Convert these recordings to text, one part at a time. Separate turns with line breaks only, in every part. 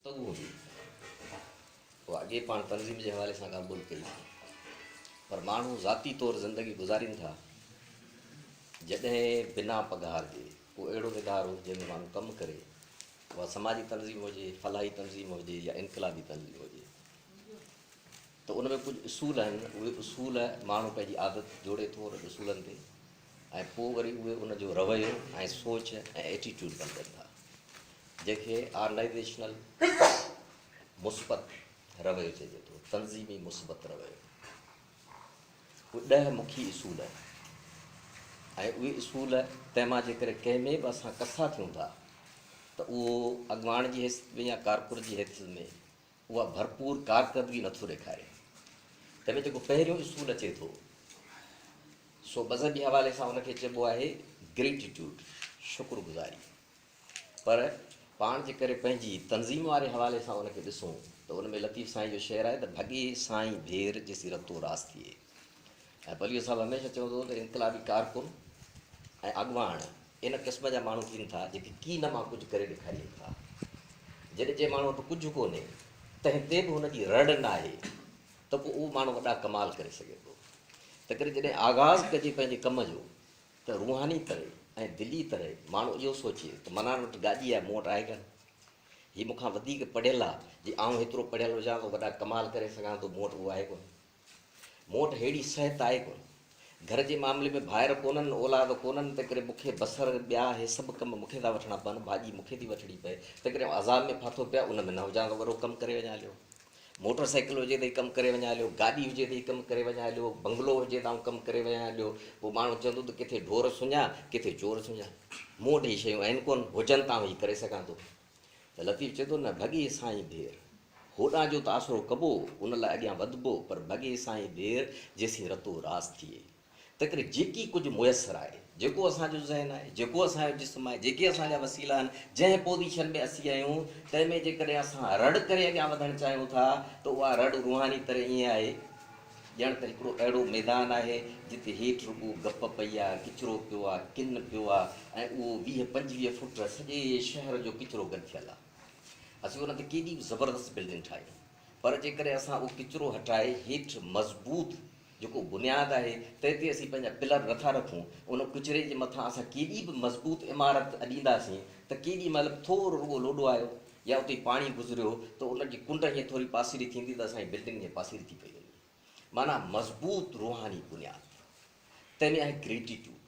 ته اهو به هو اڳي پاڻ تنظيم جي حوالي سان ڳالهه ٻولهه ڪئي هئي پر ماڻهو ذاتي طور زندگي گذارين ٿا جڏهن بنا پگهار جي ڪو اهڙو ادارو جنهن ۾ ماڻهو ڪم ڪري اها سماجي تنظيم هجي فلاحي تنظيم هجي يا انقلابي تنظيم هجي ته ان ۾ ڪجهه اصول آهن اهي اصول ماڻهو پنهنجي عادت جوڙي ٿو انهن اصولن تي ۽ پوء وري اهي ان جو رويو ۽ سوچ ۽ ائٽيٽيوڊ بڻجن ٿا جنهن کي آرنائيزيشنل مثبت رويو چئجي ٿو، تنظيمي مثبت رويو. اهي ڏهه مکي اصول آهن ۽ اهي اصول تنهن مان جيڪڏهن ڪنهن ۾ به اسان ڪسا ٿيون ٿا ته اهو اڳواڻ جي حيثيت ۾ يا ڪارڪن جي حيثيت ۾ اها ڀرپور ڪارڪردگي نٿو ڏيکاري، تنهن ۾ جيڪو پهريون اصول اچي ٿو، سو مذهبي حوالي سان ان کي چئبو آهي Gratitude، شڪر گذاري. پر پاڻ جي ڪري پنهنجي تنظيم واري حوالي سان ان کي ڏسون ته ان ۾ لطيف سائين جو شعر آهي ته ڀڳي سائين ڀير جيسين رتو راس ٿئي. ۽ بليو صاحب هميشه چوندو هو ته انقلابي ڪارڪن ۽ اڳواڻ ان قسم جا ماڻهو ٿين ٿا جيڪي ڪين مان ڪجهه ڪري ڏيکارين ٿا. جڏهن جنهن ماڻهو وٽ ڪجهه ڪونهي تنهن تي به هن جي رڙ ناهي ته پوء اهو ماڻهو وڏا ڪمال ڪري سگهي ٿو. تنهنڪري جڏهن آغاز ڪجي پنهنجي ڪم جو ته روحاني طرح ۽ دلي طرح ماڻهو اهو سوچي ته منان وٽ گاڏي آهي مون وٽ آهي ڪانه. هي مون کان وڌيڪ پڙهيل آهي جي آئون هيترو پڙهيل هجان ته وڏا ڪمال ڪري سگهان ٿو مون وٽ اهو آهي ڪونهي. مون وٽ ههڙي صحت آهي ڪونه. گهر جي معاملي ۾ ڀائر ڪونهن، اولاد ڪونهن، تنهنڪري مون کي بصر، ٻيا هي سڀ ڪم مون کي ٿا وٺڻا پون، ڀاڄي مون کي ٿي وٺڻي پئي، تنهنڪري آئون عذاب ۾ ڦاٿو پيو ان ۾ نه هجان ته وڏو ڪم ڪري وڃان هليو. موٽر سائيڪل هجي ته هي ڪم ڪري وڃان هليو، گاڏي هجي ته هي ڪم ڪري وڃان هليو، بنگلو هجي ته آئون ڪم ڪري وڃان هليو. پوء ماڻهو چوندو ته ڪٿي ڍور سڃان، ڪٿي چور سڃان. مون وٽ هي شيون آهن ڪونه، هجن ته آئون هي ڪري سگهان ٿو. ته لطيف چئي ٿو، نه ڀڳي سائين ڀير. هوڏانهن جو ته آسرو ڪبو، ان لاء اڳيان وڌبو، پر ڀڳي سائين ڀير جيسين رتو راس ٿئي. تنهنڪري جيڪي ڪجهه ميسر آهي، جيڪو اسان جو ذهن آهي، جيڪو اسان جو جسم آهي، جيڪي اسان جا وسيلا آهن، جنهن پوزيشن ۾ اسين آهيون، تنهن ۾ جيڪڏهن اسان رڙ ڪري اڳيان وڌڻ چاهيون ٿا ته اها رڙ روحاني طرح ائين آهي، ڄڻ ته هڪڙو اهڙو ميدان آهي، جتي هيٺ رڳو گپ پئي آ، ڪچرو پيو آ، ڪن پيو آ ۽ اهو ويهه پنجويهه فوٽ سڄي شهر جو ڪچرو گڏ ٿيل آ. اسين ان تي ڪيڏي به زبردست بلڊنگ ٺاهيو، پر جيڪڏهن اسان اهو ڪچرو هٽائي هيٺ مضبوط جيڪو بنياد آهي، تنهن تي اسين پنهنجا پلر نٿا رکون، ان ڪچري جي مٿان اسان ڪيڏي به مضبوط عمارت اڏينداسين ته ڪيڏي مهل به ٿورو رڳو لوڏو آيو، يا اتي پاڻي گذريو ته ان جي ڪنڊ ائين ٿوري پاسيري ٿيندي ته اسانجي بلڊنگ جيان پاسيري ٿي پئي وڃي. معنيٰ مضبوط روحاني بنياد. تنهن ۾ آهي گريٽيٽوڊ.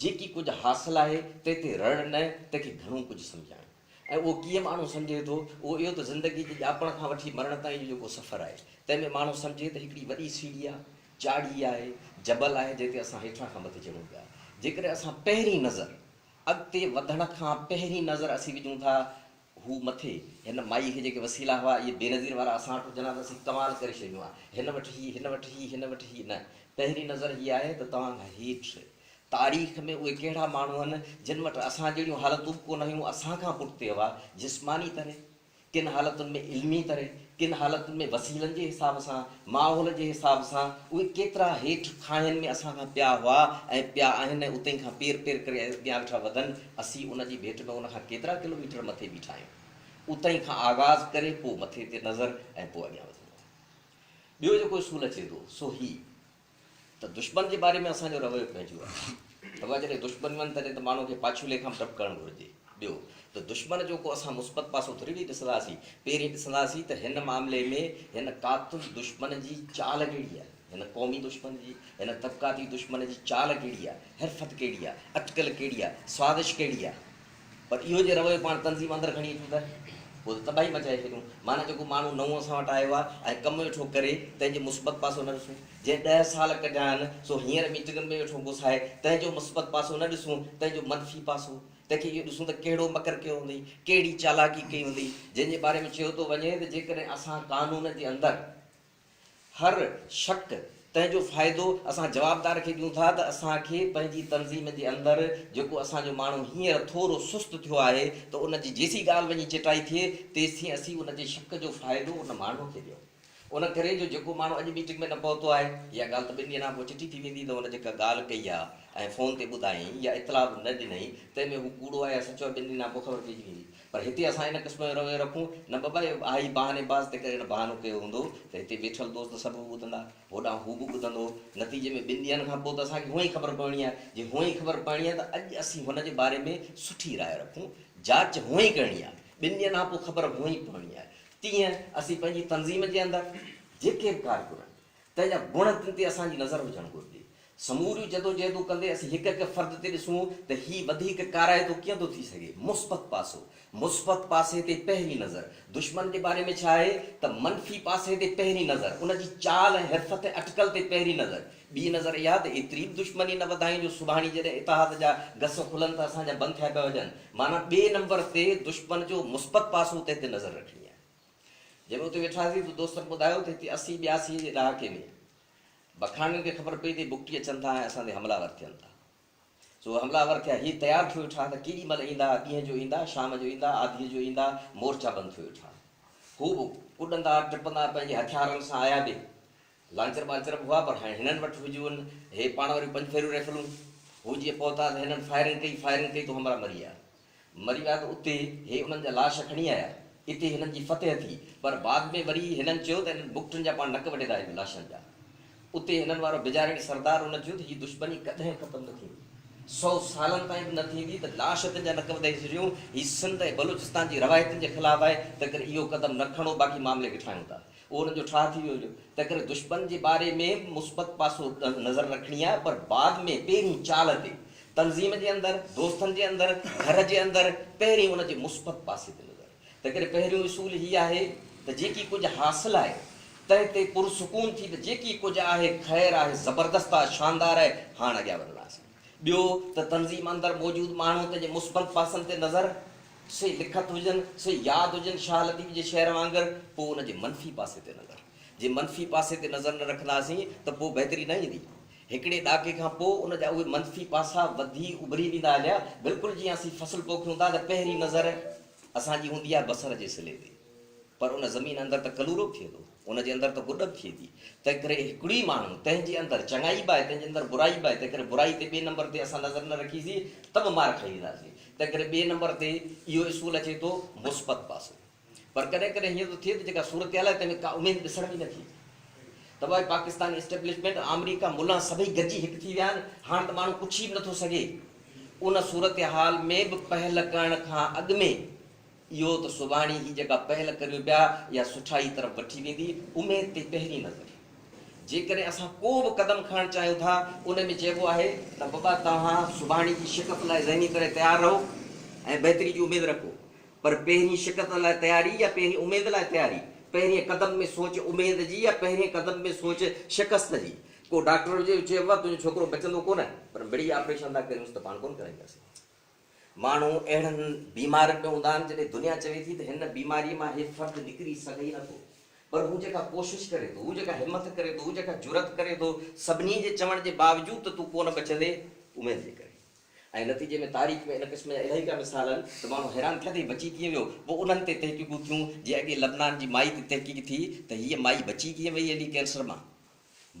جيڪي ڪجهه حاصل آهي تنهن تي رڙ نه، تنهن کي گهڻو ڪجهه سمجهائڻ. ۽ اهو ڪيئن ماڻهو سمجهي ٿو؟ اهو اهو ته زندگي جي ڄاپڻ کان وٺي مرڻ تائين جو جيڪو سفر آهي، تنهن ۾ ماڻهو سمجهي ته هڪڙي وڏي سيڙهي آهي، چاڙهي آهي، جبل آهي جنهن تي اسان هيٺان کان مٿي چڙهون پيا. جيڪڏهن اسان پهرين نظر. اڳتي وڌڻ کان پهرين نظر اسين وجهون ٿا هو مٿي هن مائي کي جيڪي وسيلا هئا اهي بينظير وارا اسان وٽ هجن ها ته اسين ڪمال ڪري ڇڏيون ها هن وٽ هي هن وٽ هي هن وٽ هي نه پهرين نظر هي آهي ته توهان کان هيٺ تاريخ ۾ اهي ڪهڙا ماڻهو هن جن وٽ اسان جهڙيون حالتون به ڪونه هيون اسان کان پٺتي هئا جسماني طرح ڪن حالتن ۾ علمي طرح، ڪن حالتن ۾ وسيلن جي حساب سان، ماحول جي حساب سان، اهي ڪيترا هيٺ کاهين ۾ اسان کان پيا هئا ۽ پيا آهن ۽ اتي کان پير پير ڪري اڳيان ويٺا وڌن، اسين ان جي ڀيٽ ۾ ان کان ڪيترا ڪلو ميٽر مٿي بيٺا آهيون. اتي کان آغاز ڪري پوء مٿي تي نظر ۽ پوء اڳيان وڌڻو آهي. ٻيو جيڪو اصول اچي ٿو سو هي. ته دشمن جي باري ۾ اسان جو رويو پنهنجو آهي ته اها جڏهن دشمن وڃن تڏهن ته ماڻهو کي پاڇولي کان به ڊپ ڪرڻ گهرجي. ٻيو ته دشمن جو ڪو اسان مثبت پاسو ٿوري ويهي ڏسنداسين، پهرين ڏسنداسين ته هن معاملي ۾ هن قاتل دشمن جي چال ڪهڙي آهي، هن قومي دشمن جي، هن طبقاتي دشمن جي چال ڪهڙي آهي، حرفت ڪهڙي آهي، اٽڪل ڪهڙي آهي، سازش ڪهڙي آهي. پر اهو جي رويو پاڻ تنظيم اندر کڻي اچون ته پوء ته تباهي مچائي ڇڏيون. معنيٰ جيڪو ماڻهو نئون اسان وٽ آيو آهي ۽ ڪم ويٺو ڪري تنهن جو مثبت پاسو نه ڏسون. جنهن ڏهه سال ڪڍيا آهن سو هينئر ميٽنگن ۾ ويٺو گسائي تنهن جو مثبت پاسو نه ڏسون تنهن جو منفي پاسو. تنهن کي اهو ڏسون ته ڪهڙو مڪر ڪيو هوندئي، ڪهڙي چالاڪي ڪئي هوندئي. جنهن جي باري ۾ چيو ٿو وڃي ته جيڪڏهن اسان قانون جي اندر. هر شڪ تنهن جو فائدو اسان جوابدار کي ڏيون ٿا ته اسان کي پنهنجي تنظيم جي اندر جيڪو اسان جو ماڻهو هينئر ٿورو سست ٿيو آهي ته ان جي جيسين ڳالهه وڃي چٽائي ٿئي تيسين اسين ان جي شڪ جو فائدو ان ماڻهو کي ڏيون ان ڪري جو جيڪو ماڻهو اڄ ميٽنگ ۾ نه پهتو آهي اها ڳالهه ته ٻن ڏينهن کان پوء چٽي ٿي ويندي ته هن جيڪا ڳالهه ڪئي آهي ۽ فون تي ٻڌائين يا اطلاع به نه ڏنئي تنهن ۾ هو ڪوڙو آهي يا سچو آهي ٻن ڏينهن کان پوء خبر پئجي ويندي پر هتي اسان ان قسم جو رويو رکون نه بابا اهو آهي ئي بهاني باز تنهن ڪري هن بهانو ڪيو هوندو ته هتي ويٺل دوست سڀ به ٻڌندا هوڏانهن هو به ٻڌندو نتيجي ۾ ٻن ڏينهن کان پوء ته اسان کي هونئن ئي خبر پوڻي آهي جي هونئن ئي خبر پوڻي آهي ته اڄ اسين هن جي باري ۾ سٺي راء رکون جاچ هونئن ئي ڪرڻي آهي ٻن ڏينهن کان پوء خبر هونئن ئي پوڻي آهي تيئن اسين پنهنجي تنظيم جي اندر جيڪي به ڪارڪن آهن تنهن جا گڻ تن تي اسان جي نظر هجڻ گهرجي. سموريون جدوجهدون ڪندي اسين هڪ هڪ فرد تي ڏسون ته هي وڌيڪ ڪارائتو ڪيئن ٿو ٿي سگهي. مثبت پاسو، مثبت پاسي تي پهرين نظر، دشمن جي باري ۾ ڇا آهي ته منفي پاسي تي پهرين نظر، ان جي چال ۽ حرفت ۽ اٽڪل تي پهرين نظر، ٻي نظر اها ته ايتري به دشمني نه وڌايون جو سڀاڻي جڏهن اتحاد جا گس کلن ته اسان جا بند ٿيا پيا هجن. معنيٰ ٻئي نمبر تي دشمن جو مثبت پاسو تنهن تي نظر رکڻي آهي. جڏهن اتي ويٺاسين ته دوستن ٻڌايو ته هتي اسي ٻياسين جي ڏهاڪي ۾ بکاڻين کي خبر پئي ته بگٽي اچن ٿا ۽ اسان تي حملا ور ٿين ٿا. سو حملا ور ٿيا. هي تيار ٿيو ويٺا ته ڪيڏي مهل ايندا، ڏينهن جو ايندا، شام جو ايندا، آڌيء جو ايندا، مورچا بند ٿيو ويٺا. هو به ڪڏندا، ٽپندا پنهنجي هٿيارن سان آيا به لانچر ٻانچر به هئا پر هاڻي هنن وٽ هجون هي پاڻ واريون پنج ڦيريون ريفلون. هو جيئن پهتا ته هنن فائرنگ ڪئي فائرنگ ڪئي تو همراهه مري ويا. مري ويا ته اتي هي انهن جا لاش کڻي آيا. اتي هنن جي فتح ٿي پر بعد ۾ وري هنن چيو ته انهن بگٽن جا پاڻ نڪ وڍيندا آهيون لاشن جا. اتي هنن وارو بجاريڻ سردار ان چيو ته هي دشمني ڪڏهن ختم نه ٿيندي. سئو سالن تائين به نه ٿيندي ته لاش تن جا نڪ وڍي ڇڏيون. هي سنڌ ۽ بلوچستان جي روايتن جي خلاف آهي تنهنڪري اهو قدم نه کڻو باقي معاملي وٺرايون ٿا. اهو ان جو ٺاهه ٿي ويو هجو. تنهنڪري دشمن جي باري ۾ مثبت پاسو نظر رکڻي آهي پر بعد ۾ پهرين چال تي، تنظيم جي اندر، دوستن جي اندر، گهر جي اندر پهرين ان جي مثبت پاسي تي نظر. تنهنڪري پهريون اصول هي آهي ته جيڪي ڪجهه حاصل آهي تنهن تي پرسڪون ٿي ته جيڪي ڪجهه آهي خير آهي، زبردست آهي، شاندار آهي، هاڻ اڳيان وڌندا سين. ٻيو ته تنظيم اندر موجود ماڻهو تنهنجي مثبت پاسن تي نظر، سي لکت هجن، سي ياد هجن شاهه لطيف جي شعر وانگر، پوء ان جي منفي پاسي تي نظر. جي منفي پاسي تي نظر نه رکنداسين ته پوء بهتري نه ايندي. هڪڙي ڏهاڪي کان پوء ان جا اهي منفي پاسا وڌي اڀري ويندا هليا. بلڪل جيئن اسين فصل پوکيون ٿا ته پهرين نظر اسان جي هوندي آهي بصر جي صلي تي پر ان زمين اندر ته ڪلورو به ٿئي ٿو. ان جي اندر ته گڏ به ٿئي ٿي. تنهن ڪري هڪڙي ماڻهو تنهن جي اندر چڱائي به آهي تنهن جي اندر برائي به آهي تنهن ڪري برائي تي ٻئي نمبر تي اسان نظر نه رکي سين ته به مار کائي وينداسين تنهن ڪري ٻئي نمبر تي اهو اصول اچي ٿو مثبت پاسو پر ڪڏهن ڪڏهن هيئن ٿو ٿئي ته جيڪا صورتحال آهي تنهن ۾ ڪا اميد ڏسڻ ۾ نه ٿي اچي ته بھائي پاڪستان اسٽيبلشمينٽ آمريڪا ملان سڀئي گڏجي هڪ ٿي ويا آهن هاڻ ته ماڻهو پڇي به نه ٿو سگهي ان صورتحال ۾ به پهل ڪرڻ کان اڳ ۾ اهو ته سڀاڻي هي جيڪا پهل ڪريون پيا اها سٺائي طرف وٺي ويندي اميد تي پهرين نظر جيڪڏهن اسان ڪو به قدم کڻڻ چاهيون ٿا ان ۾ چئبو آهي ته بابا توهان سڀاڻي جي شڪست لاء ذهني طرح تيار رهو ۽ بهتري جي اميد رکو پر پهرين شڪست لاء تياري يا پهرين اميد لاء تياري پهرين قدم ۾ سوچ اميد جي يا پهرين قدم ۾ سوچ شڪست جي ڪو ڊاڪٽر هجي چئبو آهي تنهنجو ڇوڪرو بچندو ڪونه پر مڙئي آپريشن ٿا ڪريونس ته پاڻ ڪونه ڪرائينداسين. ماڻهو اهڙن بيمارن ۾ هوندا آهن جڏهن دنيا چوي ٿي ته هن بيماري مان هي فرد نڪري سگهي ئي نٿو پر هو جيڪا ڪوشش ڪري ٿو، هو جيڪا همٿ ڪري ٿو، هو جيڪا جرئت ڪري ٿو سڀني جي چوڻ جي باوجود ته تون ڪونه بچندي اميد جي ڪري ۽ نتيجي ۾ تاريخ ۾ ان قسم جا الائي ڪا مثال آهن ته ماڻهو حيران ٿيا ته هي بچي ڪيئن ويو پوء انهن تي تحقيقون ٿيون جي اڳي لبنان جي مائي تي تحقيق ٿي ته هيء مائي بچي ڪيئن وئي علي ڪينسر مان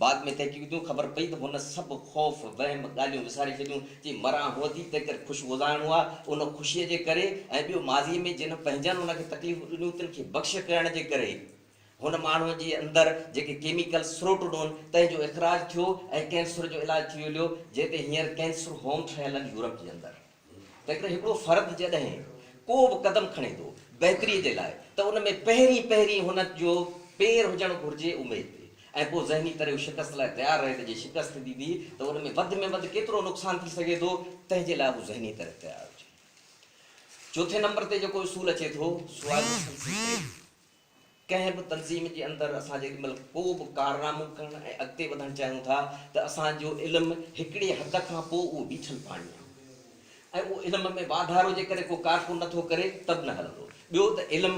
بعد ۾ تحقيق جون خبر پئي ته هن سڀ خوف، وهم، ڳالهيون وساري ڇڏيون چي مران هو ٿي تنهنڪري خوش گذارڻو آ ان خوشيء جي ڪري ۽ ٻيو ماضيء ۾ جن پنهنجن هن کي تڪليفون ڏنيون تن کي بخش ڪرڻ جي ڪري هن ماڻهوء جي اندر جيڪي ڪيميڪل سروٽ ڏون تنهن جو اخراج ٿيو ۽ ڪينسر جو علاج ٿي وليو جنهن تي هينئر ڪينسر هوم ٺهيل آهن يورپ جي اندر. تنهنڪري هڪڙو فرد جڏهن ڪو به قدم کڻي ٿو بهتري جي لاء ته ان ۾ پهرين پهرين هن جو پير هجڻ گهرجي اميد تي ۽ پوء ذهني طرح هو شڪست لاء تيار رهي ته جي شڪست ٿيندي به ته ان ۾ وڌ ۾ وڌ ڪيترو نقصان ٿي سگهي ٿو تنهن جي لاء هو ذهني طرح تيار هجي. چوٿين نمبر تي جيڪو اصول اچي ٿو سو آهي مسلسل ترقي. ڪنهن به تنظيم جي اندر اسان جيڏي مهل ڪو به ڪارنامو ڪرڻ ۽ اڳتي وڌڻ چاهيون ٿا ته اسان جو علم هڪڙي حد کان پوء اهو بيٺل پاڻي آهي ۽ اهو علم ۾ واڌارو جيڪڏهن ڪو ڪارڪن نه ٿو ڪري ته به نه هلندو. ٻيو ته علم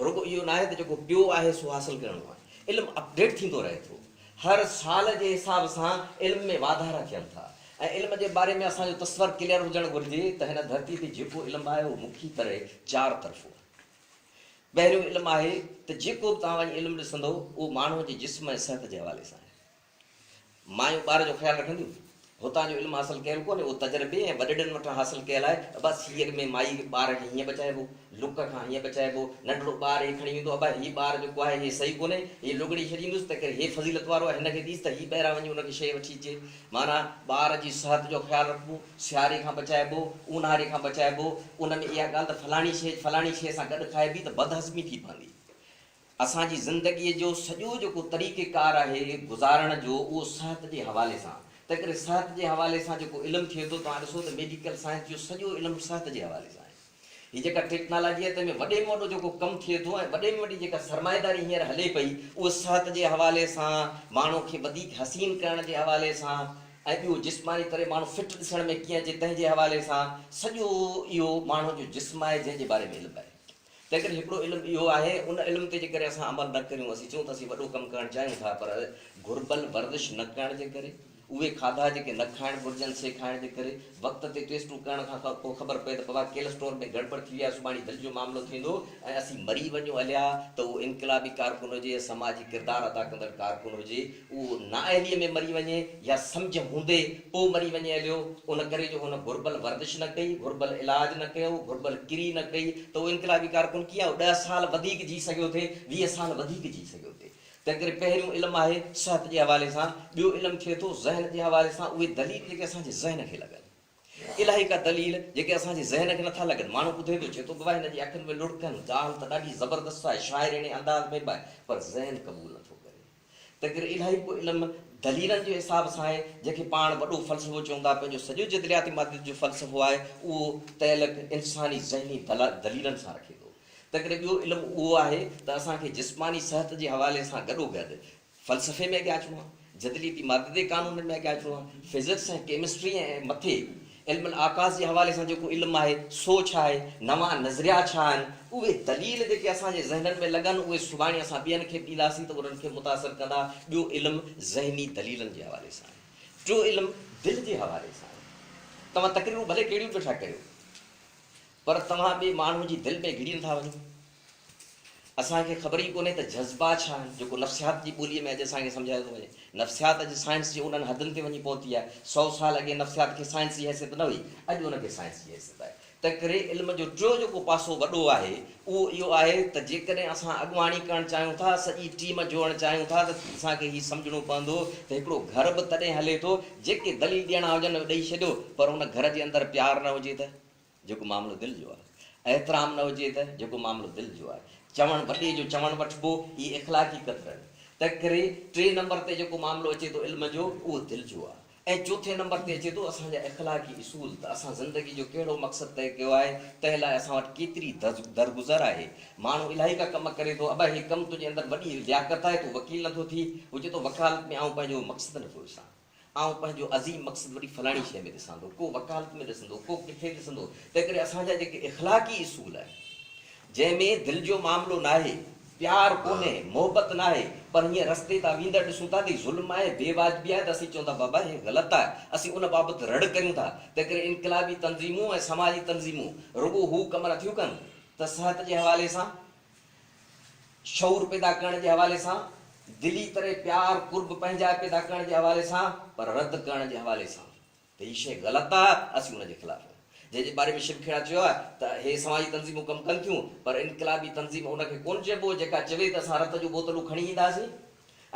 رڳو اهو ناهي ته جيڪو پيو آهي سو حاصل ڪرڻو آهي. علم اپڊيٽ ٿيندو رهي ٿو. هر سال جي حساب سان علم ۾ واڌارا ٿين ٿا ۽ علم جي باري ۾ اسان جو تصور ڪليئر هجڻ گهرجي ته هن ڌرتي تي جيڪو علم آهي اهو مکيه طرح چار طرفو آهي. پهريون علم آهي ته جيڪو به توهان وڃي علم ڏسندو اهو ماڻهوء جي جسم ۽ صحت جي حوالي سان آهي. مايون ٻار جو خيال رکنديون. هتان جو علم حاصل ڪيل ڪونهي اهو تجربي ۽ وڏڙن وٽان حاصل ڪيل آهي. ابا سيء ۾ مائي کي ٻار کي هيئن بچائبو، لڪ کان هيئن بچائبو، ننڍڙو ٻار هي کڻي ويندو ابا هي ٻار جيڪو آهي هي صحيح ڪونهي، هي لوڳڙي ڇڏيندس تنهنڪري هي فضيلت وارو آهي هن کي ڏيس ته هي ٻاهران وڃي ان کي شيء وٺي اچي. معنيٰ ٻار جي صحت جو خيال رکبو، سياري کان بچائبو، اونهاري کان بچائبو، ان ۾ اها ڳالهه ته فلاڻي شيء فلاڻي شيء سان گڏ کائبي ته بدهضمي ٿي پوندي. اسان جي زندگيء جو سڄو جيڪو طريقه ڪار آهي گذارڻ جو اهو صحت جي حوالي سان، تنهن ڪري صحت جي حوالي سان جيڪو علم ٿئي ٿو، توهان ڏسو ته ميڊيڪل سائنس جو سڄو علم صحت جي حوالي سان آهي. هي جيڪا ٽيڪنالاجي آهي تنهن ۾ وڏي ۾ وڏو جيڪو ڪم ٿئي ٿو ۽ وڏي ۾ وڏي جيڪا سرمائيداري هينئر هلي پئي اهو صحت جي حوالي سان ماڻهو کي وڌيڪ حسين ڪرڻ جي حوالي سان ۽ ٻيو جسماني طرح ماڻهو فٽ ڏسڻ ۾ ڪيئن اچي تنهن جي حوالي سان سڄو اهو ماڻهو جو جسم آهي جنهن جي باري ۾ علم آهي تنهن ڪري هڪڙو علم اهو آهي ان علم تي جيڪڏهن اسان عمل نه ڪريون اسين چئون ته اسين وڏو ڪم ڪرڻ چاهيون ٿا پر گهربل ورزش نه ڪرڻ جي ڪري اهي کاڌا جيڪي نه کائڻ گهرجن سي کائڻ جي ڪري وقت تي ٽيسٽون ڪرڻ کان پوء خبر پئي ته پوء ڪيلسٽرول ۾ گڙٻڙ ٿي وئي آهي سڀاڻي دل جو معاملو ٿيندو ۽ اسين مري وڃون اليا ته اهو انقلابي ڪارڪن هجي يا سماجي ڪردار ادا ڪندڙ ڪارڪن هجي اهو نااهليء ۾ مري وڃي يا سمجهه هوندي پوء مري وڃي اليو ان ڪري جو هن گهربل ورزش نه ڪئي گهربل علاج نه ڪيو گهربل ڪري نه ڪئي ته اهو انقلابي ڪارڪن ڪيئن ڏهه سال وڌيڪ جي سگهيو ٿي ويهه سال وڌيڪ جي سگهيو ٿي تنهنڪري پهريون علم آهي صحت جي حوالي سان، ٻيو علم ٿئي ٿو ذهن جي حوالي سان، اهي دليل جيڪي اسان جي ذهن کي لڳن. الائي ڪا دليل جيڪي اسان جي ذهن کي نٿا لڳن. ماڻهو ٻڌي ٿو، چئي ٿو ته واهه هن جي اکين ۾ لڙڪن، ڳالهه ته ڏاڍي زبردست آهي، شاعريڻي انداز ۾ به آهي، پر ذهن قبول نٿو ڪري. تنهنڪري الائي ڪو علم دليلن جي حساب سان آهي، جنهن کي پاڻ وڏو فلسفو چون ٿا، پنهنجو سڄو جدلياتي ماديت جو فلسفو آهي، اهو تعلق انساني ذهني دليلن سان رکي ٿو. تنهنڪري ٻيو علم اهو آهي ته اسان کي جسماني صحت جي حوالي سان گڏوگڏ فلسفي ۾ اڳيان اچڻو آهي، جدليتي مادي دي قانونن ۾ اڳيان اچڻو آهي، فزڪس ۽ ڪيمسٽري ۽ مٿي علم الاعڪاس جي حوالي سان جيڪو علم آهي سو ڇا آهي، نوان نظريا ڇا آهن، اهي دليل جيڪي اسان جي ذهنن ۾ لڳن اهي سڀاڻي اسان ٻين کي به ڏينداسين ته انهن کي متاثر ڪندا، ٻيو علم ذهني دليلن جي حوالي سان آهي، ٽيون علم دل جي حوالي سان آهي، توهان تقريرون ڀلي ڪهڙيون به ويٺا ڪريو. پر توهان ٻئي ماڻهوء جي دل ۾ گهڙي نٿا وڃو. اسان کي خبر ئي ڪونهي ته جذبا ڇا آهن، جيڪو نفسيات جي ٻوليء ۾ اڄ اسان کي سمجهايو ٿو وڃي. نفسيات اڄ سائنس جي انهن حدن تي وڃي پهتي آهي. سؤ سال اڳي نفسيات کي سائنس جي حيثيت نه هئي، اڄ ان کي سائنس جي حيثيت آهي. تنهنڪري علم جو ٽيون جيڪو پاسو وڏو آهي، اهو اهو آهي ته جيڪڏهن اسان اڳواڻي ڪرڻ چاهيون ٿا، سڄي ٽيم جوڙڻ چاهيون ٿا ته اسان کي هي سمجهڻو پوندو ته هڪڙو گهر به تڏهن هلي ٿو، جيڪي دليل ڏيڻا هجن ڏئي ڇڏيو، پر ان گهر جي اندر پيار نه هجي ته؟ جيڪو معاملو دل جو آهي. احترام نه هجي ته، جيڪو معاملو دل جو آهي. چوڻ وڏي جو چوڻ وٺبو، هي اخلاقي ڪٿرن. تنهنڪري ٽئين نمبر تي جيڪو معاملو اچي ٿو علم جو، اهو دل جو آهي. ۽ چوٿين نمبر تي اچي ٿو اسان جا اخلاقي اصول ته اسان زندگي جو ڪهڙو مقصد طئي ڪيو آهي، تنهن لاء اسان وٽ ڪيتري درگذر آهي. ماڻهو الائي ڪا ڪم ڪري ٿو، ابا هي ڪم تنهنجي اندر وڏي لياقت آهي، تون وڪيل نه ٿو ٿي. هو چئي ٿو وڪالت ۾ آئون پنهنجو مقصد نه ٿو ڏسان. آئون پنهنجو عظيم مقصد وڏي فلاڻي شيء ۾ ڏسان ٿو، ڪو وڪالت ۾ ڏسندو، ڪو ڪٿي ڏسندو، تنهنڪري اسان جا جيڪي اخلاقي اصول آهن، جنهن ۾ دل جو معاملو ناهي، پيار ڪونهي، محبت ناهي، پر هيئن رستي تان ويندڙ ڏسون ٿا ته هي ظلم آهي، بي واجبي آهي ته اسين چئون ٿا بابا هي غلط آهي، اسين ان بابت رڙ ڪريون ٿا، تنهنڪري انقلابي تنظيمون ۽ سماجي تنظيمون رڳو هو ڪم نٿيون ڪن ته صحت جي حوالي سان، شعور پيدا ڪرڻ جي حوالي سان، دلي تري پيار، قرب، پنهنجائي پيدا ڪرڻ جي حوالي سان، پر رد ڪرڻ جي حوالي سان ته هي شيء غلط آهي، اسين ان جي خلاف آهيون. جنهن جي باري ۾ شب کهڙا چيو آهي ته هي سماجي تنظيمون ڪم ڪن ٿيون، پر انقلابي تنظيم ان کي ڪونه چئبو، جيڪا چوي ته اسان رت جون بوتلون کڻي اينداسين.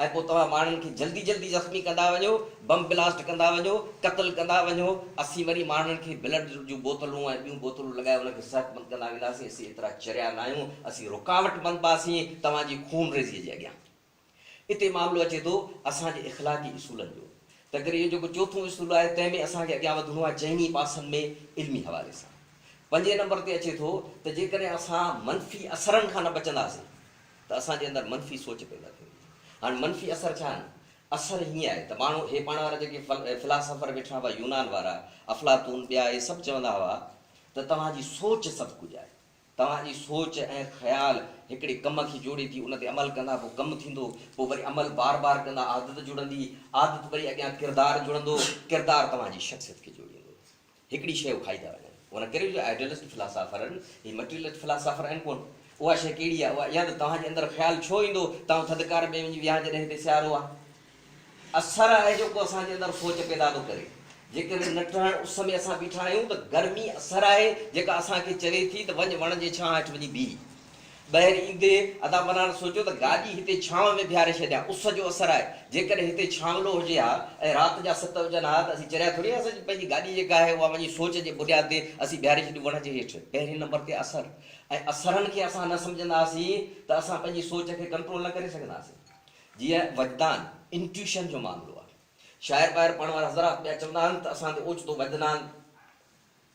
۽ پوء توهان ماڻهن کي جلدي جلدي زخمي ڪندا وڃو، بم بلاسٽ ڪندا وڃو، قتل ڪندا وڃو، اسين وري ماڻهن کي بلڊ جون بوتلون ۽ ٻيون بوتلون لڳائي انهن کي صحتمند ڪندا وينداسين، اسين ايترا چريا ناهيون، اسين رڪاوٽ بنباسين توهان جي خونريزيء جي اڳيان. اتي معاملو اچي ٿو اسان جي اخلاقي اصولن جو، تنهنڪري اهو جيڪو چوٿون اصول آهي تنهن ۾ اسان کي اڳيان وڌڻو آهي چئني پاسن ۾ علمي حوالي سان. پنجين نمبر تي اچي ٿو ته جيڪڏهن اسان منفي اثرن کان نه بچنداسين ته اسان جي اندر منفي سوچ پيدا ٿئي ٿي. هاڻ منفي اثر ڇا آهن؟ اثر هيئن آهي ته ماڻهو هي پاڻ وارا جيڪي فلاسافر ويٺا هئا يونان وارا، افلاطون ٻيا اهي سڀ چوندا هئا ته توهان جي سوچ سڀ ڪجهه آهي. توهان جي سوچ ۽ خيال هڪڙي ڪم کي جوڙي ٿي ان تي عمل ڪندا پوء ڪم ٿيندو پوء وري عمل بار بار ڪندا عادت جڙندي عادت وري اڳيان ڪردار جڙندو ڪردار توهان جي شخصيت کي جوڙيندو. هڪڙي شيء اکائي ٿا وڃن. ان ڪري جو آئيڊيلسٽ فلاسافرن، هي مٽيريلسٽ فلاسافر آهن ڪونه. اها شيء ڪهڙي آهي اها يا ته توهان جي اندر خيال ڇو ايندو، توهان ٿڌڪار ۾ وڃي ويها جڏهن هتي سيارو آهي. اثر آهي جيڪو اسان جي اندر سوچ پيدا ٿو ڪري. جيڪڏهن نٽهڙ اس ۾ اسان بيٺا آهيون ته گرمي اثر آهي جيڪا اسان کي چوي ٿي ته وڃ وڻ جي ڇانهه هيٺ وڃي بيهه. ٻاهر ايندي ادا منان سوچيو ته گاڏي هتي ڇانو ۾ بيهاري ڇڏيان، اس جو اثر آهي، جيڪڏهن هتي ڇانگلو هجي ها ۽ رات جا ست هجن ها ته اسين چريا ٿوري هئاسين، پنهنجي گاڏي جيڪا آهي اها وڃي سوچ جي بنياد تي اسين بيهاري ڇڏيون وڻ جي هيٺ. پهرين نمبر تي اثر ۽ اثرن کي اسان نه سمجهندا هئاسين ته اسان پنهنجي سوچ کي ڪنٽرول نه ڪري سگهندا هئاسين. جيئن وجدان، Intuition، جو معاملو آهي. شاعر ٻاهر پڙهڻ وارا حضرات پيا چوندا آهن ته اسان تي اوچتو وجدان،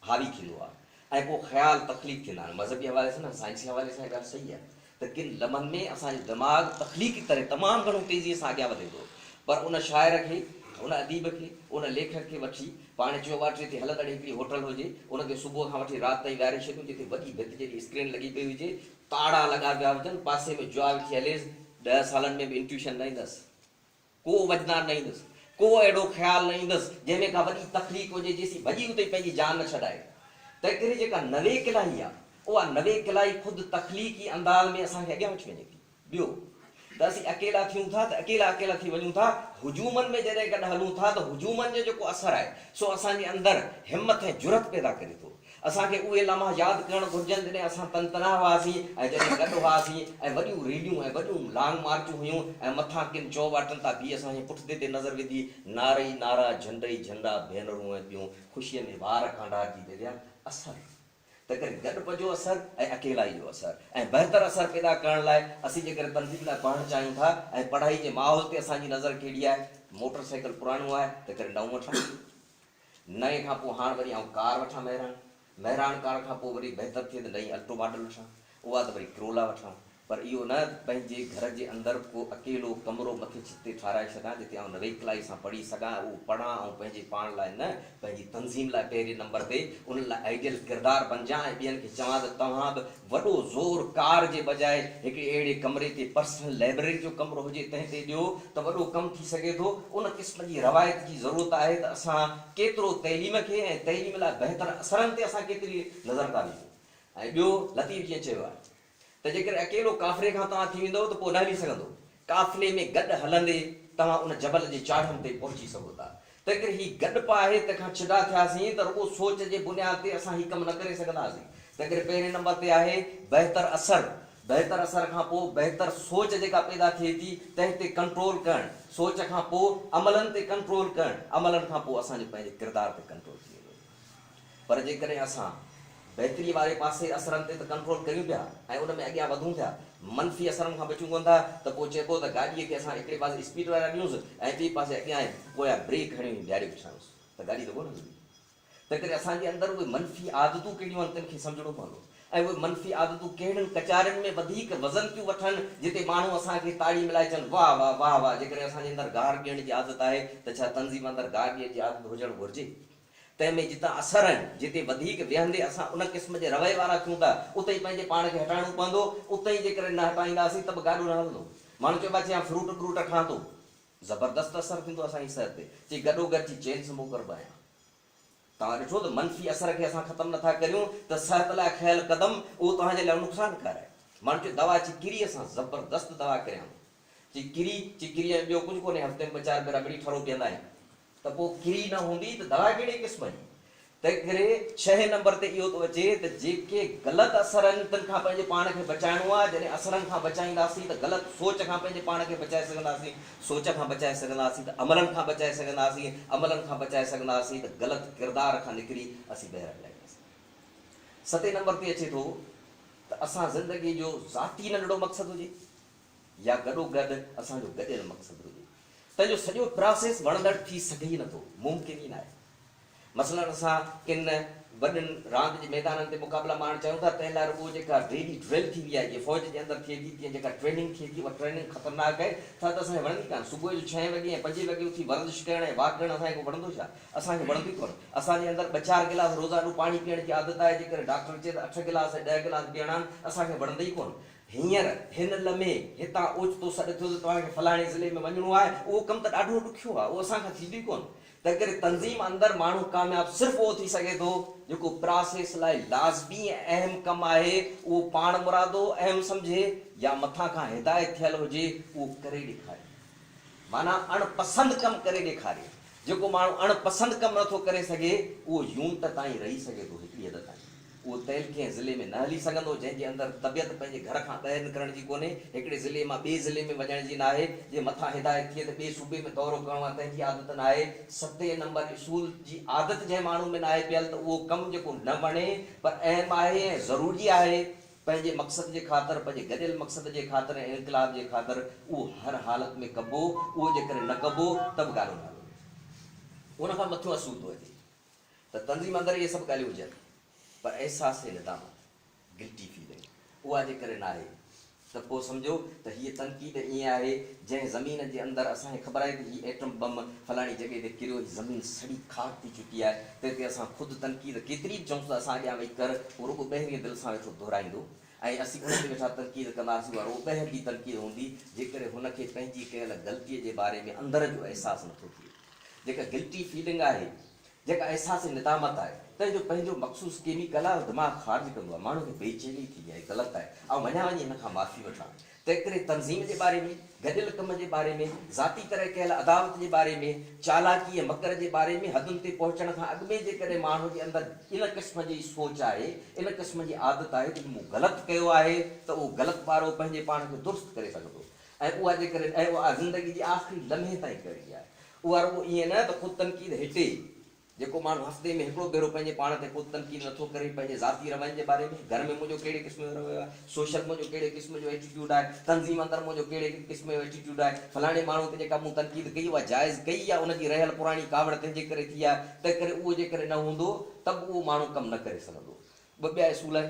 حاوي ٿيندو آهي ۽ ڪو خيال تخليق ٿيندا آهن مذهبي حوالي سان نه سائنسي حوالي سان اها ڳالهه صحيح آهي ته ڪن لمحن ۾ اسان جو دماغ تخليقي طرح تمام گهڻو تيزي سان اڳيان وڌي ٿو پر ان شاعر کي ان اديب کي ان ليکڪ کي وٺي پاڻ چيوباٽري تي هلندڙ هڪڙي هوٽل هجي ان کي صبح کان وٺي رات تائين ويهاري ڇڏيون جتي وڏي ڀت جيڏي اسڪرين لڳي پئي هجي تاڙا لڳا پيا هجن پاسي ۾ جوا ويٺي هليس ڏهه سالن ۾ به انٽيوشن نه ايندس. ڪو وجدان نه ايندس، ڪو اهڙو خيال نه ايندس جنهن ۾ ڪا وڏي تخليق هجي جيسين وڄي اتي پنهنجي جان نه ڇڏائي. تنهنڪري جيڪا نوي ڪلائي آ، اها نوي ڪلائي خود تخليقي انداز ۾ اسان کي اڳيان وٺي وڃي ٿي. ٻيو ته اسين اڪيلا ٿيون ٿا ته اڪيلا اڪيلا ٿي وڃون ٿا، هجومن ۾ جڏهن گڏ هلون ٿا ته هجومن جو جيڪو اثر آهي سو اسان جي اندر همٿ ۽ جرئت پيدا ڪري ٿو. اسان کي اهي لمحا ياد ڪرڻ گهرجن جڏهن اسان تن تنها هئاسين ۽ جڏهن گڏ هئاسين ۽ وڏيون ريليون ۽ وڏيون لانگ مارچون هيون ۽ مٿان ڪن چوواٽن تان بيهي اسان جي پٺتي تي نظر وڌي نعرا ئي نعرا جهنڊ ئي جهنڊا ڀينرون ۽ ٻيون خوشيء ۾ وار ڪانڊار جي دريا اثر تنهن ڪري گڏ پجو اثر ۽ اڪيلائي جو اثر ۽ بهتر اثر پيدا ڪرڻ لاء اسين جيڪڏهن تنظيم لاء پڙهڻ چاهيون ٿا ۽ پڙهائي جي ماحول تي اسان جي نظر ڪهڙي آهي موٽر سائيڪل پراڻو آهي تنهن ڪري نئون وٺڻ نئين کان پوء هاڻ وري آئون ڪار وٺان مهراڻ، مهراڻ ڪار کان پوء وري بهتر ٿئي ته نئين الٽو ماڊل وٺان، اها ته وري ڪرولا وٺان، پر اهو نه ته پنهنجي گهر جي اندر ڪو اڪيلو ڪمرو مٿي ڇت تي ٺهرائي ڇڏيان جتي آئون نويڪلائي سان پڙهي سگهان ۽ اهو پڙهان آئون پنهنجي پاڻ لاء نه پنهنجي تنظيم لاء پهرين نمبر تي انهن لاء آئيڊيل ڪردار بنجان ۽ ٻين کي چوان ته توهان به وڏو زور ڪار جي بجاء هڪڙي اهڙي ڪمري تي پرسنل لائبرري جو ڪمرو هجي تنهن تي ڏيو ته وڏو ڪم ٿي سگهي ٿو. ان قسم جي روايت جي ضرورت آهي ته اسان ڪيترو تعليم کي ۽ تعليم لاء بهتر اثرن تي اسان ڪيتري نظر ٿا وجهون ۽ ٻيو لطيف جيئن چيو آهي ته جيڪڏهن اڪيلو ڪافري کان توهان ٿي ويندؤ ته پوء نه هلي سگهندو قافلي ۾ گڏ هلندي توهان ان جبل جي چاڙهن تي پهچي سگهو ٿا. تنهنڪري هي گڏ پا آهي، تنهن کان ڇڊا ٿياسين ته رڳو سوچ جي بنياد تي اسان هي ڪم نه ڪري سگهنداسين. تنهنڪري پهرين نمبر تي آهي بهتر اثر. بهتر اثر کان پوء بهتر سوچ جيڪا پيدا ٿئي ٿي، تنهن تي ڪنٽرول ڪرڻ. سوچ کان پوء عملن تي ڪنٽرول ڪرڻ. عملن کان پوء اسان جو پنهنجي ڪردار تي ڪنٽرول ٿي ويندو. پر جيڪڏهن اسان بهتري واري پاسي اثرن تي ته ڪنٽرول ڪريون پيا ۽ ان ۾ اڳيان وڌون ٿيا، منفي اثرن کان بچون ڪونه ٿا ته پوء چئبو ته گاڏيء کي اسان هڪڙي پاسي اسپيڊ لڳائي ڏنوس ۽ ٻئي پاسي اڳيان ۽ پويان بريڪ هڻي بيهاري پڇايونس ته گاڏي ته ڪونه هلندي. تنهنڪري اسان جي اندر اهي منفي عادتون ڪهڙيون آهن تن کي سمجهڻو پوندو ۽ اهي منفي عادتون ڪهڙن ڪچارين ۾ وڌيڪ وزن ٿيون وٺن جتي ماڻهو اسان کي تاڙي ملائي چون واهه واهه واهه واهه جيڪڏهن اسان جي اندر گار ڏيڻ جي عادت آهي ته ڇا تنظيم اندر گار ڏيڻ جي عادت هجڻ گهرجي؟ تنهن ۾ جتان اثر آهن، جتي وڌيڪ ويهندي اسان ان قسم جي رويي وارا ٿيون ٿا، اتي ئي پنهنجي پاڻ کي هٽائڻو پوندو، اتي ئي جيڪڏهن نه هٽائينداسين ته به گاڏو نه هلندو. ماڻهو چئي ڀاء چي آئون فروٽ بروٽ کان ٿو، زبردست اثر ٿيندو اسان جي صحت تي، چي گڏو گڏ چي چين سموڪر به آهيان. توهان ڏٺو ته منفي اثر کي اسان ختم نه ٿا ڪريون ته صحت لاء کنيل قدم اهو توهان جي لاء نقصان ڪار آهي. ماڻهو چئي دوا چي ڪري اسان زبردست دوا ڪريان ٿو، چي ڪري چي ڪري ۽ ٻيو ڪجهه ڪونهي، هفتي ۾ ٻه چار ڀيرا ٻڙي ٺرو پيئندا آهيون. ته پوء ڪري نه هوندي ته دوا ڪهڙي قسم جي؟ تنهنڪري ڇهين نمبر تي اهو ٿو اچي ته جيڪي غلط اثر آهن تن کان پنهنجي پاڻ کي بچائڻو آهي، جڏهن اثرن کان بچائينداسين ته غلط سوچ کان پنهنجي پاڻ کي بچائي سگهنداسين، سوچ کان بچائي سگهنداسين ته عملن کان بچائي سگهنداسين، عملن کان بچائي سگهنداسين ته غلط ڪردار کان نڪري اسين ٻيهر اڳيائينداسين. ستين نمبر تي اچي ٿو ته اسان زندگي جو ذاتي ننڍڙو مقصد هجي. يا گڏو گڏ اسان جو گڏيل مقصد هجي، تنهن جو سڄو پراسيس وڻندڙ ٿي سگهي ئي نٿو، ممڪن ئي ناهي. مثلاً اسان ڪن وڏن راند جي ميدانن تي مقابلا ماڻڻ چاهيون ٿا، تنهن لاء رڳو جيڪا ريلي ڊرل ٿيندي آهي، جيئن فوج جي اندر ٿئي ٿي، تيئن جيڪا ٽريننگ ٿئي ٿي، اها ٽريننگ خطرناڪ آهي، ٿر ته اسان کي وڻندي ڪانه، صبح جو ڇهين وڳي ۽ پنجين وڳي اٿي ورزش ڪرڻ ۽ واڪ ڪرڻ اسان کي ڪو وڻندو ڇا؟ اسان کي وڻندو ئي ڪونه. اسان جي اندر ٻه چار گلاس روزانو پاڻي پيئڻ جي عادت آهي، جيڪڏهن ڊاڪٽر چئي ته اٺ گلاس ۽ ڏهه گلاس پيئڻا آهن، اسان کي وڻندي ئي ڪونه. هينئر، هن لمحي، هتان اوچتو سڏ ٿيو ته توهان کي فلاڻي ضلعي ۾ وڃڻو آهي، اهو ڪم ته ڏاڍو ڏکيو آهي، اهو اسان کان ٿيندو ئي ڪونه. تنهنڪري تنظيم اندر ماڻهو ڪامياب صرف اهو ٿي سگهي ٿو، جيڪو پراسيس لاء لازمي ۽ اهم ڪم آهي، اهو پاڻمرادو اهم سمجهي يا مٿان کان هدايت ٿيل هجي، اهو ڪري ڏيکاري. معنيٰ اڻ پسند ڪم ڪري ڏيکاري. جيڪو ماڻهو اڻ پسند ڪم نه ٿو ڪري سگهي، اهو يونٽ تائين رهي سگهي ٿو، هڪڙي حد تائين. اهو تيل ڪنهن ضلعي ۾ نه هلي سگهندو، جنهن جي اندر طبيعت پنهنجي گهر کان ٻاهر نڪرڻ جي ڪونهي، هڪڙي ضلعي مان ٻئي ضلعي ۾ وڃڻ جي ناهي، جي مٿان هدايت ٿئي ته ٻئي صوبي ۾ دورو ڪرڻو آهي تنهن جي عادت ناهي، ستين نمبر اصول جي عادت جنهن ماڻهو ۾ ناهي پيل ته اهو ڪم جيڪو نه وڻي پر اهم آهي ۽ ضروري آهي پنهنجي مقصد جي خاطر پنهنجي گڏيل مقصد جي خاطر ۽ انقلاب جي خاطر اهو هر حالت ۾ ڪبو اهو جيڪڏهن نه ڪبو ته به ڳاڙهو نالو ان کان مٿيون اصول ٿو اچي. ته تنظيم اندر اهي سڀ ڳالهيون هجن پر احساس ندامت، Guilty Feeling، اها جي ڪري ناهي ته پوء سمجهو ته هيء تنقيد ائين آهي جنهن زمين جي اندر اسان کي خبر آهي ته هي ايٽم بم فلاڻي جڳهه تي ڪريو هي زمين سڙي خاڪ ٿي چڪي آهي تنهن تي اسان خود تنقيد ڪيتري به چئونس ته اسان اڳيان ويهي ڪر هو رڳو ٻهرين دل سان ويٺو دهرائيندو ۽ اسين ان تي ويٺا تنقيد ڪنداسين اها رڳو ٻهر جي تنقيد هوندي جي ڪري هن کي پنهنجي ڪيل غلطي جي باري ۾ اندر جو احساس نٿو ٿئي. جيڪا گلٽي فيلنگ آهي، جيڪا احساس ندامت آهي، تنهن جو پنهنجو مخصوص ڪيميڪل آهي، اهو دماغ خارج ڪندو آهي، ماڻهوء کي بي چيني ٿيندي آهي، هي غلط آهي، آئون وڃان وڃي هن کان معافي وٺان، تنهنڪري تنظيم جي باري ۾، گڏيل ڪم جي باري ۾، ذاتي طرح ڪيل عداوت جي باري ۾، چالاڪي ۽ مڪر جي باري ۾، حدن تي پهچڻ کان اڳ ۾ جيڪڏهن ماڻهوء جي اندر ان قسم جي سوچ آهي، ان قسم جي عادت آهي ته هي مون غلط ڪيو آهي ته اهو غلط ٻارو پنهنجي پاڻ کي درست ڪري سگهندو. ۽ اها جيڪڏهن ۽ اها زندگي جي آخري لمحي تائين ڪئي آهي اها رڳو ائين نه ته خود تنقيد هٽي جيڪو ماڻهو هفتي ۾ هڪڙو ڀيرو پنهنجي پاڻ تي خود تنقيد نه ٿو ڪري پنهنجي ذاتي روين جي باري ۾ گهر ۾ منهنجو ڪهڙي قسم جو رويو آهي سوشل منهنجو ڪهڙي قسم جو ايٽيٽيوڊ آهي تنظيم اندر منهنجو ڪهڙي قسم جو ايٽيٽيوڊ آهي فلاڻي ماڻهو تي جيڪا مون تنقيد ڪئي اها جائز ڪئي يا ان جي رهيل پراڻي ڪاوڙ تنهنجي ڪري ٿي آهي تنهنڪري اهو جيڪڏهن نه هوندو ته به اهو ماڻهو ڪم نه ڪري سگهندو ٻه ٻيا اصول آهن.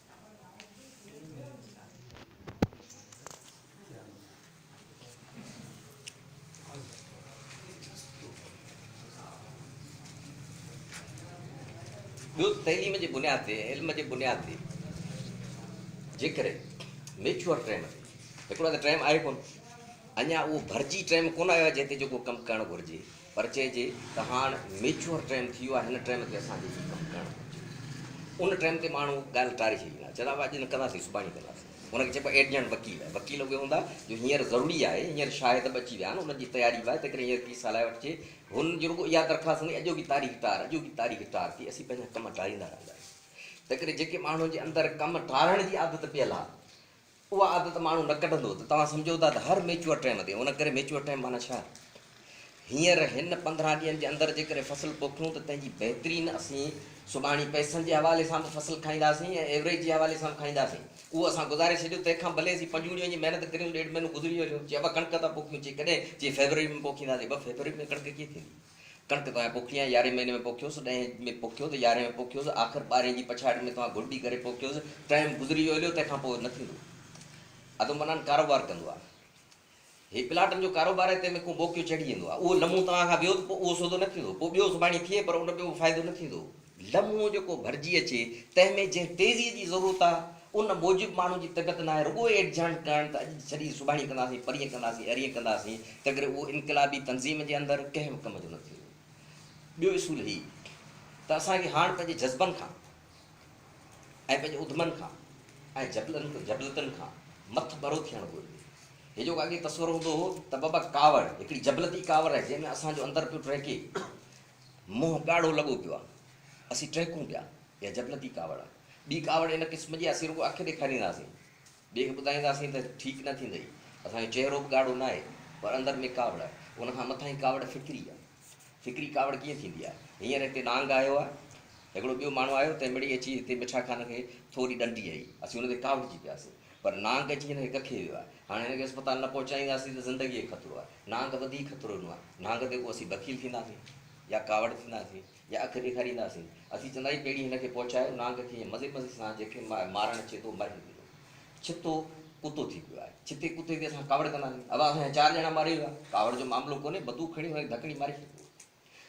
ٻيو ته تعليم جي بنياد تي ۽ علم جي بنياد تي جيڪڏهن ميچوئر ٽريم تي هڪڙو ته ٽريم آهي ڪون اڃا اهو ڀرجي ٽريم ڪون آيو آهي جنهن تي جيڪو ڪم ڪرڻ گهرجي پر چئجي ته هاڻ ميچوئر ٽيم ٿي ويو آهي هن ٽيم تي اسان کي هي ڪم ڪرڻ گهرجي ان ٽيم تي ماڻهو ڳالهه ٽاري ڇڏيندا آهن چئندا اڄ نه ڪنداسين سڀاڻي ڪنداسين ان کي چئبو آهي ايڊجنٽ وڪيل وڪيل اهي هوندا جو هينئر ضروري آهي هينئر شاهد به اچي ويا آهن انهن جي تياري به آهي تنهن ڪري هينئر ڪيس هلائي وٺجي هنن جي رڳو اها درخواست هوندي اڄوڪي تاريخ ٽار اڄوڪي تاريخ ٽار ٿي اسين پنهنجا ڪم ٽاريندا رهندا آهيون تنهن ڪري جيڪي ماڻهن جي اندر ڪم ٽارڻ جي عادت پيل آهي اها عادت ماڻهو نه ڪڍندو ته توهان سمجهو ٿا ته هر ميچوئر ٽائيم تي ان ڪري ميچوئر ٽائيم معنيٰ ڇا آهي؟ هينئر هن پندرهن ڏينهن جي اندر جيڪڏهن فصل پوکيون ته تنهن جي بهترين اسين سڀاڻي پئسن جي حوالي سان به فصل کائينداسين ۽ ايوريج جي حوالي سان به کائينداسين اهو اسان گذاري ڇڏيو تنهن کان ڀلي اسين پنجون ڏينهن جي محنت ڪريون ڏيڍ مهينو گذري وڃيو چي ابا ڪڻڪ ٿا پوکيون چي ڪڏهن چي فيبروري ۾ پوکينداسين ابا فيبروري ۾ ڪڻڪ ڪيئن ٿيندي؟ ڪڻڪ توهان پوکي ۽ يارهين مهيني ۾ پوکيوس، ڏهين ۾ پوکيوس، يارهين ۾ پوکيوس، آخر ٻارهين جي پڇاڙي ۾ توهان گهرڊي ڪري پوکيوس، ٽائيم گذري ويو هليو، تنهن کان پوء نه ٿيندو. ادو منان ڪاروبار ڪندو آ. هي پلاٽن جو ڪاروبار آهي، تنهن ۾ ڪو موقعو چڙهي ايندو آ. اهو لمحو توهان کان ويو ته پوء اهو سودو نه ٿيندو. پوء ٻيو سڀاڻي ٿئي پر ان ٻيو به فائدو نه ٿيندو. لمحو جيڪو ڀرجي اچي، تنهن ۾ جنهن تيزيء جي ضرورت آ، ان موجب ماڻهو جي طبيعت ناهي، رڳو ايڊجهڻ ڪرڻ ته اڄ جي ڇڏي سڀاڻي ڪنداسين، پرينء ڪنداسين، ارينء ڪنداسين، تنهنڪري اهو انقلابي تنظيم جي اندر ڪنهن به ڪم جو نه ٿيندو. ٻيو اصول هي ته اسان کي هاڻ پنهنجي جذبن کان ۽ پنهنجي اڌمن کان ۽ جبلن، جبلتن، کان مٿ ڀرو ٿيڻ گهرجي. هي جيڪو اڳي تصور هوندو هو ته بابا ڪاوڙ هڪڙي جبلتي ڪاوڙ آهي، جنهن ۾ اسان جو اندر پيو ٽهڪي، منهن ڳاڙهو لڳو پيو آ. اسين ٽهڪون پيا. اها جنتي ڪاوڙ آ. ٻي ڪاوڙ ان قسم جي اسين رڳو اک ڏيکارينداسين. ٻئي کي ٻڌائينداسين ته ٺيڪ نه ٿيندئي. اسان جو چهرو به ڳاڙهو ناهي. پر اندر ۾ ڪاوڙ. ان کان مٿاهين ڪاوڙ فڪري آ. فڪري ڪاوڙ ڪيئن ٿيندي آ. هينئر هتي نانگ آيو آ. هڪڙو ٻيو ماڻهو آيو تنهن مڙئي اچي هتي مٺا خان کي ٿوري ڏنڊي هنئي. اسين ان تي ڪاوڙجي پياسين. پر نانگ اچي هن کي ڪکي ويو آهي. هاڻ هن کي اسپتال نه پهچائينداسين ته زندگيء کي خطرو آهي. نانگ وڌيڪ خطرو ڏنو آهي. نانگ تي ڪو اسين بخيل ٿينداسين يا ڪاوڙ ٿينداسين يا اک ڏيکارينداسين. اسين چونداسين پهرين هن کي پهچايو. نانگ کي ائين مزي مزي سان جنهن کي مارڻ اچي ٿو مري ويندو. ڇتو ڪتو ٿي پيو آهي. ڇتي ڪتي تي اسان ڪاوڙ ڪنداسين. ابا اسان جا چار ڄڻا ماري ويا. ڪاوڙ جو معاملو ڪونهي. بتوق کڻي هن کي ڌڪڙي ماري ڇڏبو.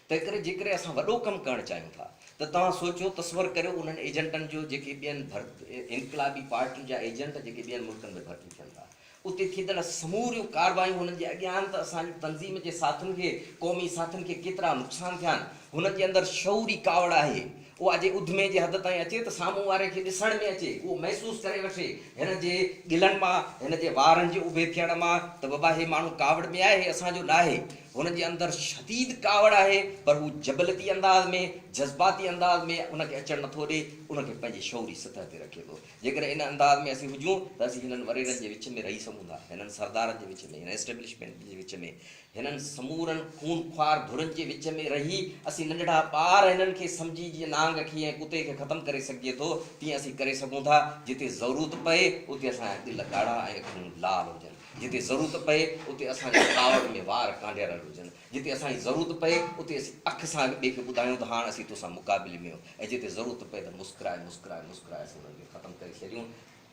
تنهنڪري جيڪڏهن اسان وڏو ڪم ڪرڻ چاهيون ٿا ته توهان سوچيو، تصور ڪريو انهن ايجنٽن جو جيڪي ٻين ڀرت انقلابي پارٽي جا ايجنٽ جيڪي ٻين ملڪن ۾ ڀرتي ٿين ٿا. اتي ٿيندڙ سموريون ڪارروايون هنن جي اڳيان آهن ته اسان جي تنظيم جي ساٿين کي، قومي ساٿين کي ڪيترا نقصان ٿيا آهن. هنن جي اندر شعوري ڪاوڙ آهي. اها جي اڌمي جي حد تائين اچي ته سامهون واري کي ڏسڻ ۾ اچي، اهو محسوس ڪري وٺي هن جي ڳلن مان، هن جي وارن جي اڀي ٿيڻ مان ته بابا هي ماڻهو ڪاوڙ ۾ آهي، هي اسان جو ناهي. هن جي اندر شديد ڪاوڙ آهي پر هو جبلتي انداز ۾ جذباتي انداز ۾ ان کي اچڻ نٿو ڏي، ان کي پنهنجي شعوري سطح تي رکي ٿو. جيڪڏهن ان انداز ۾ اسين هجون ته اسين هنن وريرن جي وچ ۾ رهي سگهون ٿا، هنن سردارن جي وچ ۾، هن اسٽيبلشمينٽ جي وچ ۾، هنن سمورن خون خوار ڌرين جي وچ ۾ رهي اسين ننڍڙا ٻار هنن کي سمجهي جيئن نانگ کي ۽ ڪتي کي ختم ڪري سگهجي ٿو تيئن اسين ڪري سگهون ٿا. جتي ضرورت پئي اتي اسان جا دل ڳاڙها ۽ اکيون لال هجن. جتي ضرورت پئي اتي اسان جا ڪاوڙ ۾ وار ڪانڊيارل هجن، جتي اسان جي ضرورت پئي اتي اسين اک سان هڪ ٻئي کي ٻڌايون ته هاڻ اسين توسان مقابلي ۾ آهيون ۽ جتي ضرورت پئي ته مسڪرائي مسڪرائي مسڪرائي اسين انهن کي ختم ڪري ڇڏيون.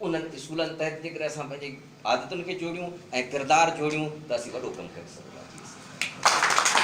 انهن اصولن تحت جيڪڏهن اسان پنهنجي عادتن کي جوڙيون ۽ ڪردار جوڙيون ته اسين وڏو ڪم ڪري سگهنداسين.